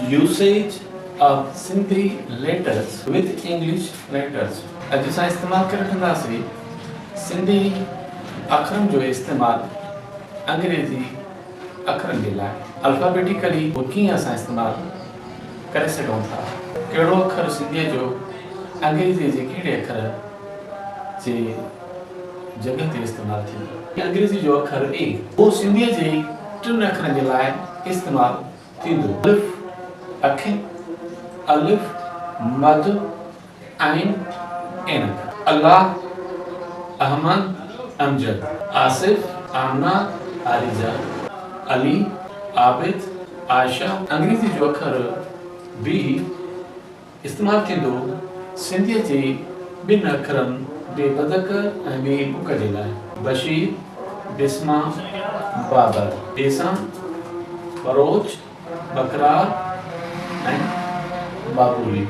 Usage of Sindhi letters with English letters، اڄ اسان استعمال ڪري وٺنداسين سنڌي اکرن جو استعمال انگريزي اکرن جي لاء الفابيٽيڪلي اهو ڪيئن اسان استعمال ڪري سگهون ٿا ڪهڙو اکر سنڌي جو انگريزي جي ڪهڙي اکر جي جڳهه تي استعمال ٿيندو. انگريزي جو اکر اي اهو سنڌي جي ٽن اکرن جي لاء استعمال ٿيندو. الف اکين، الف مد عين عينڪ. الله احمد امجد آصف آمنه عارضه علي عابد عائشه انگريزي جو اکر بي. استعمال ٿيندو سنڌيء جي ٻن اکرن بي بدڪ ۽ بي بڪ جي لاء. بشير، بسما، بابر. بيسان، ٻروچ، ٻڪرار ۽ ٻاٻولي.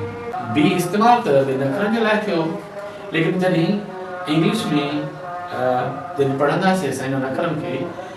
بي استعمال ته ٻن اکرن جي لاء ٿيو ليڪن جڏهن انگلش ۾ ر جڏهن پڙهنداسين سائين انهن اکرن کي.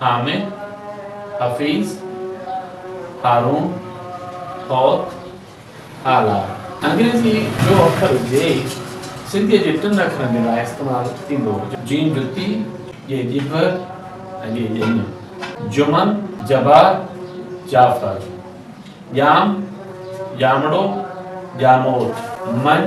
حامد حفيظ هارون حوت آلار. انگريزيء جو اکر جي سنڌيء جي ٽن اکرن جي لاء استعمال ٿيندو هو. جين جتي، جي ڄڀ ۽ جي ڄڃ. جمن جبار جعفر. ڄام ڄامڙو ڄاموٽ. مڃ